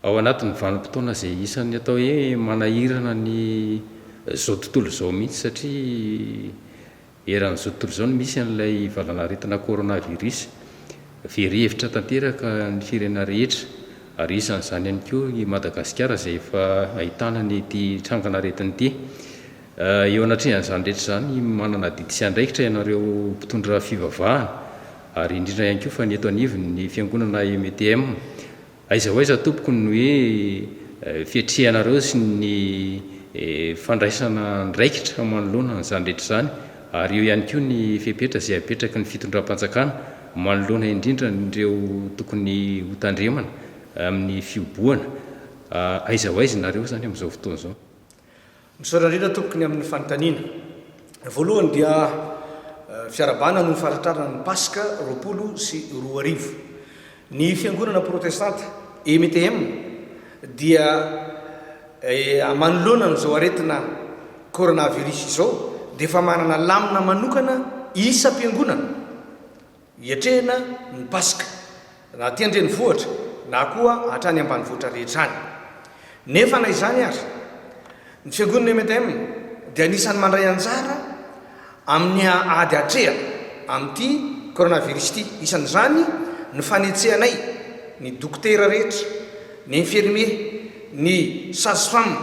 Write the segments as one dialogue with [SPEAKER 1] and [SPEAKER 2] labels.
[SPEAKER 1] Ao anatin'ny vanim-potoana izay isan'ny atao hoe manahirana ny izao tontolo izao mihitsy satria eran'izao tontolo izao no misy an'ilay valanaretina coronavirus. Very hevitra tanteraka ny firenena rehetra ary isan'izany ihany koa i Madagasikara izay efa ahitana an'ity trangan'aretina ity. Eo anatrehan'izany rehetra izany, manana adidy sy andraikitra ianareo mpitondra fivavahana, ary indrindra ihany koa fa ny eto anivon'ny Fiangonana EMTM. Aiza ho aiza tompoko ny hoe fiatrehanareo sy ny fandraisana andraikitra manoloana an'izany rehetra izany, ary eo ihany koa ny fepetra izay apetraky ny fitondram-panjakana manoloana indrindra an'ireo tokony hotandremana amin'ny fihobohana. Aiza ho aiza ianareo izany amin'izao fotoana izao? Misaotra
[SPEAKER 2] indrindra tompoko ny amin'ny fanontaniana. Voalohany dia fiarahabana no faharitrarana ny Paska roapolo sy roa arivo. Ny fiangonana protestanta EMTM dia manoloana an'izao aretina coronavirus izao dia efa manana lamina manokana isam-piangonana. Hiatrehina ny Paska, na aty an-drenivohitra, na koa hatrany ambanivohitra rehetra any. Nefa na izany aza, ny Fiangonana MDM dia anisan'ny mandray anjara amin'ny ady atrehana amin'ity Coronavirus ity. Isan'izany ny fanetsehanay ny dokotera rehetra, ny infirmier, ny sage-femme,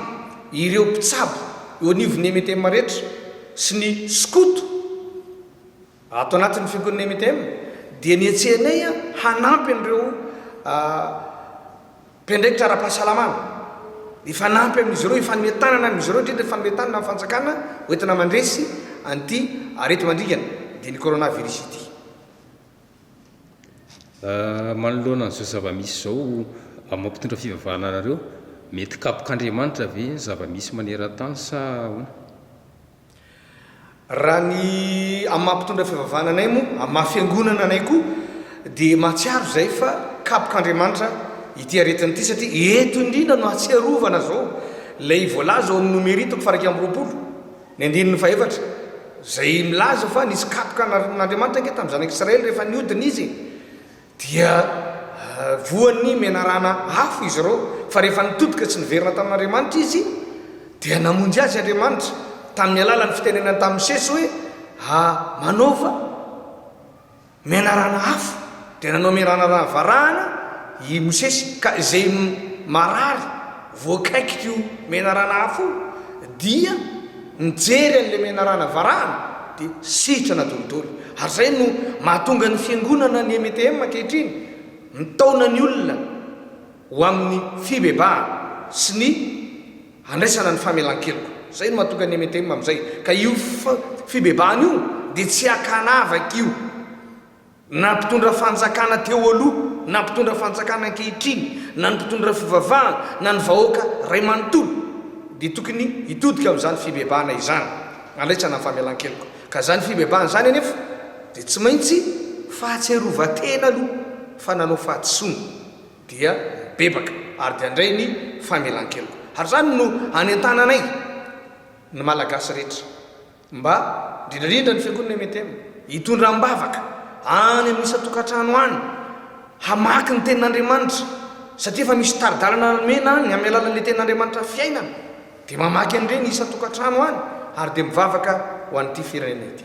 [SPEAKER 2] ireo mpitsabo eo anivon'ny MDM rehetra sy ny skoto. Ato anatin'ny fiogon'ny MITM dia nihetsehanay hanampy an'ireo mpiandraikitra ara-pahasalamana, hifanampy amin'izy ireo, hifanome tanana amin'izy ireo, indrindra hifanome tanana amin'ny fanjakana ho entina mandresy an'ity areti-mandringana dian'ny coronavirus ity.
[SPEAKER 1] Manoloana an'izao zava-misy izao, amin'izao mpitondra fivavahana anareo, mety kapoka Andriamanitra ve ny zava-misy maneran-tany sa ahoana?
[SPEAKER 2] Raha ny amin'ny maha mpitondra fivavahana anay moa, amin'ny maha fiangonana anay koa dia mahatsiaro izay fa kapok'Andriamanitra ity aretina ity satria eto indrindra no ahatsiarovana izao ilay voalaza ao amin'ny Nomery toko faha-iraika amby roapolo ny andininy faha-efatra izay milaza fa nisy kapoka narin'Andriamanitra ange tamin'ny zanak'Israely rehefa niodina izy e! Dia voan'ny menarana afo izy ireo, fa rehefa nitodika tsy niverina tamin'Andriamanitra izy, dia namonjy azy Andriamanitra tamin'ny alalan'ny fitenenany tamin'i Mosesy hoe, a Manaova menarana afo. Dia nanao menarana varahana i Mosesy, ka izay marary, voakaikik'io menarana hafa io dia nijery an'ilay menarana varahana dia sitrana dolidoly ary izay no mahatonga ny fiangonana ny MTM ankehitriny mitaona ny olona ho amin'ny fibebahana sy ny handraisana ny famelan-keloka izay no mahatonga ny MTM amin'izay ka io fibebahana io dia tsy hakana avak'io Na mpitondra fanjakana teo aloha, na mpitondra fanjakana ankehitriny, na ny mpitondra fivavahana, na ny vahoaka ray manontolo, dia tokony hitodika amin'izany fibebahana izany. Andraisana ny famelan-keloka. Ka izany fibebahana izany anefa dia tsy maintsy fahatsiarovan-tena aloha fa nanao fahadisoana, dia mibebaka, ary dia handray ny famelan-keloka. Ary izany no anentananay ny Malagasy rehetra. Mba, indrindra indrindra ny Fiangonana MTM, hitondra am-bavaka any amin'ny isan-tokantrano any, hamaky ny Tenin'Andriamanitra, satria efa misy tari-dalana nomena any amin'ny alalan'ilay Tenin'Andriamanitra fiainana, dia mamaky an'ireny isan-tokantrano any ary dia mivavaka ho an'ity firenena ity.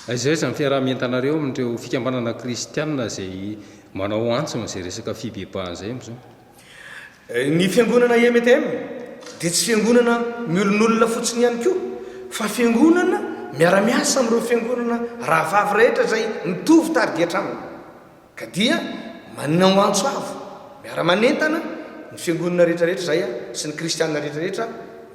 [SPEAKER 2] Aiza aiza ny
[SPEAKER 1] fiaraha-mientanareo amin'ireo fikambanana kristiana izay manao antso an'izay resaka fibebahan'izay amin'izao?
[SPEAKER 2] Ny fiangonana EMTM dia tsy fiangonana miolonolona fotsiny ihany koa fa fiangonana miara-miasa amin'ireo fiangonana rahavavy rehetra izay mitovy target aminy ka dia manana ho antso avo miara-manentana ny fiangonana rehetrarehetra izay sy ny kristiana rehetrarehetra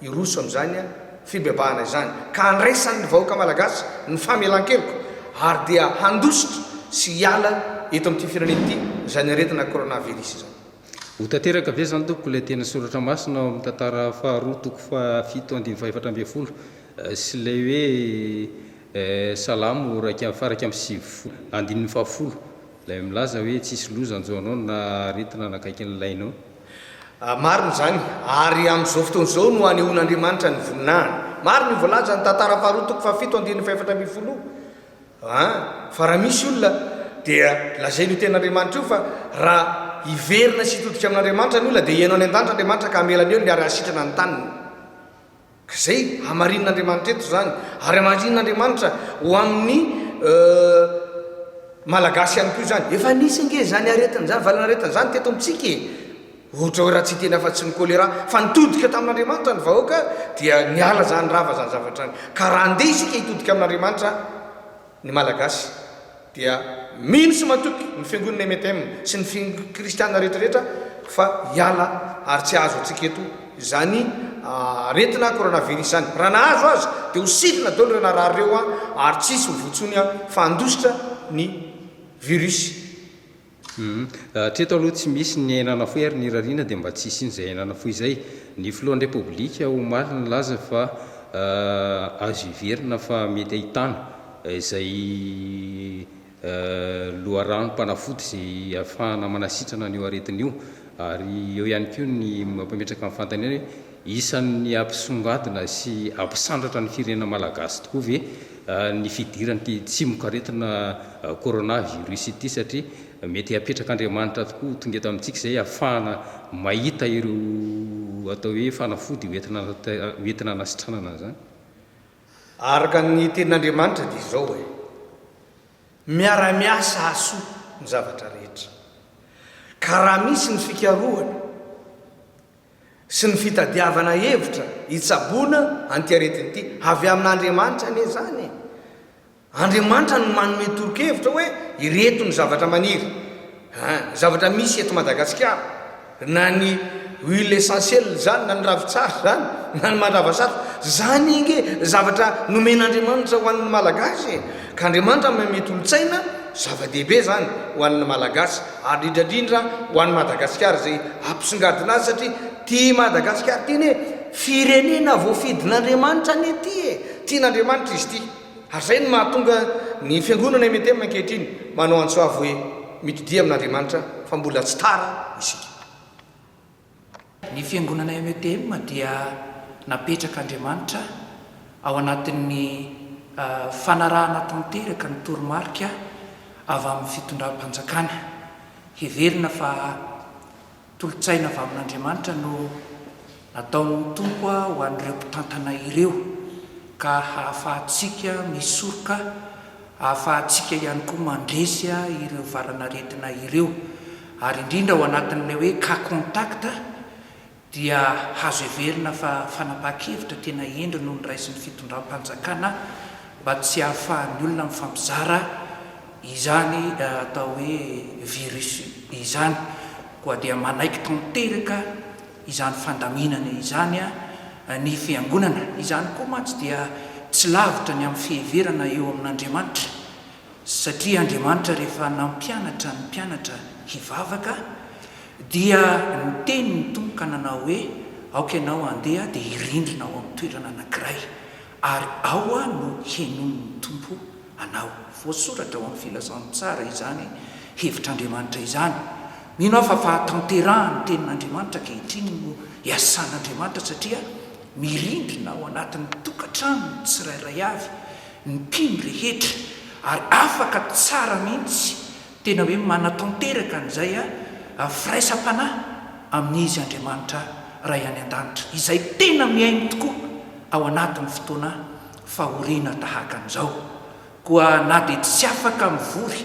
[SPEAKER 2] hiroso amin'izany fibebahana izany ka handraisan'ny vahoaka malagasy ny famelan-keloka ary dia handositra sy hiala eto amin'ity firenena ity izany aretina coronavirus izany. Ho tanteraka
[SPEAKER 1] ve izany tompoko ilay teny soratra masina ao amin'ny Tantara faharoa toko faha fito andininy faha efatra ambin'ny folo sy ilay hoe Salamo iraika amby faraika amby sivifolo andininy faha folo ilay milaza hoe tsisy loza hanjo anao na aretina hanakaiky ny lainao? Marina
[SPEAKER 2] izany, ary amin'izao fotoana izao no hanehoan'Andriamanitra ny voninahiny. Marina io voalazan'ny Tantara faharoa toko faha fito andininy faha efatra ambin'ny folo io. Aa fa raha misy olona dia lazainy io tenin'Andriamanitra io fa raha hiverina sy hitodika amin'Andriamanitra ny olona dia hihaino any an-danitra Andriamanitra ka hamelany eo ny ary hahasitrana ny taniny ka izay hamarinin'Andriamanitra eto izany ary hamarinin'Andriamanitra ho amin'ny Malagasy ihany koa izany. Efa nisy ange izany aretina izany, valin'aretina izany teto amintsika e! Ohatra hoe raha tsy hiteny afa-tsy ny choléra fa nitodika tamin'Andriamanitra ny vahoaka dia niala izany rava izany zavatra izany. Ka raha andeha isika hitodika amin'Andriamanitra ny Malagasy dia mino sy matoky ny fiangonana MTM sy ny fiangonana kristiana rehetra rehetra fa hiala ary tsy hahazo antsika eto izany aretina coronavirus izany. Raha nahazo aza dia ho sidina daholo ireo narary ireo ary tsy hisy mivoa intsony fa handositra ny virus Humm. Hatreto
[SPEAKER 1] aloha tsy misy ny aina nafoy ary ny rariana dia mba tsy hisian'izay aina nafoy izay. Ny filohan'ny Repoblika omaly nilaza fa azo hiverina fa mety ahitana izay loharanom-panafody izay ahafahana manasitrana an'io aretina io. Ary eo ihany koa ny mampametraka ny fanontaniana hoe. Isan'ny hampisongadina sy hampisandratra ny firenena malagasy tokoa ve ny fidiran'ity tsimokaretina corona virus ity satria mety hapetrak'Andriamanitra tokoa ho tonga eto amintsika izay hahafahana mahita ireo atao hoe fanafody ho entina hanasitranana an'izany?
[SPEAKER 2] Araka ny tenin'Andriamanitra dia izao e, miara-miasa hahasoa ny zavatra rehetra ka raha misy ny fikarohana, sy ny fitadiavana hevitra hitsaboana an'ity aretina ity. Avy amin'Andriamanitra anie izany e! Andriamanitra no manome toro-kevitra hoe ireto ny zavatra maniry, an, ny zavatra misy eto Madagasikara, na ny huile essentielle izany, na ny ravin-tsary izany, na ny mandrava satroka, izany ange zavatra nomen'Andriamanitra ho an'ny Malagasy e! Ka Andriamanitra manome tolo-tsaina, zava-dehibe izany ho an'ny Malagasy. ary indrindra indrindra ho an'i Madagasikara izay ampisongadina azy satria ity Madagasikara ity anie firenena voafidin'Andriamanitra anie ity e! tian'Andriamanitra izy ity ary izay no mahatonga ny fiangonana MNTM ankehitriny manao antso avo hoe mitodia amin'Andriamanitra fa mbola tsy tara isika.
[SPEAKER 3] Ny fiangonana METM dia napetrak' Andriamanitra ao anatin' ny fanarahana tanteraka ny toromarika avy amin' ny fitondram-panjakana. Heverina fa tolo-tsaina avy amin' Andriamanitra no nataon' ny Tompo ho an' ireo mpitantana ireo, ka hahafahantsika misoroka Ahafahantsika ihany koa mandresy ireo valanaretina ireo ary indrindra ao anatin'ilay hoe cas contact dia azo heverina fa fanapahan-kevitra tena hendry no noraisin'ny fitondram-panjakana mba tsy hahafahan'ny olona mifampizara izany atao hoe virus izany koa dia manaiky tanteraka izany fandaminana izany ny Fiangonana, izany koa mantsy dia tsy lavitra ny amin'ny fiheverana eo amin'Andriamanitra, satria Andriamanitra rehefa nampianatra ny mpianatra hivavaka dia niteny ny Tompo ka nanao hoe, aoka ianao handeha dia hirindrina ao amin'ny toerana anankiray. Ary ao aho no henoin'ny Tompo anao. Voasoratra ao amin'ny Filazantsara izany hevitr'Andriamanitra izany. Mino aho fa fahatanterahan'ny Tenin'Andriamanitra ankehitriny no iasan'Andriamanitra satria mirindrina ao anatin'ny tokantranony tsirairay avy ny mpino rehetra ary afaka tsara mihitsy Tena hoe manatanteraka an'izay a firaisam-panahy amin'Izy Andriamanitra Ray any An-danitra, izay tena mihaino tokoa ao anatin'ny fotoana fahoriana tahaka an'izao. Koa na dia tsy afaka mivory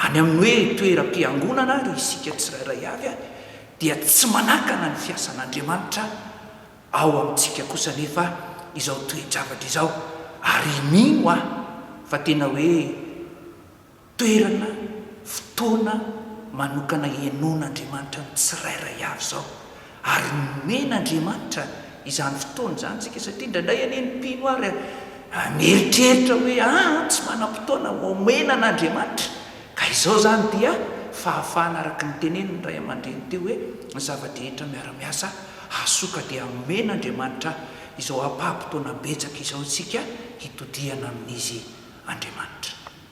[SPEAKER 3] any amin'ny hoe toeram-piangonana ary isika tsirairay avy a, dia tsy manakana ny fiasan'Andriamanitra ao amintsika kosa anefa izao toe-javatra izao, ary mino aho fa tena hoe. Toerana, fotoana, manokana hihainoan'Andriamanitra ny tsirairay avy izao ary nomen'Andriamanitra izany fotoana izany isika satria indraindray anie ny mpino ary mieritreritra hoe aa tsy manam-potoana homena an'Andriamanitra ka izao izany dia fahafahana araka ny tenenin'ny ray aman-dreny teo hoe ny zava-drehetra miara-miasa hahasoka dia homen'Andriamanitra izao ampaha-potoana betsaka izao isika hitodihana amin'izy Andriamanitra.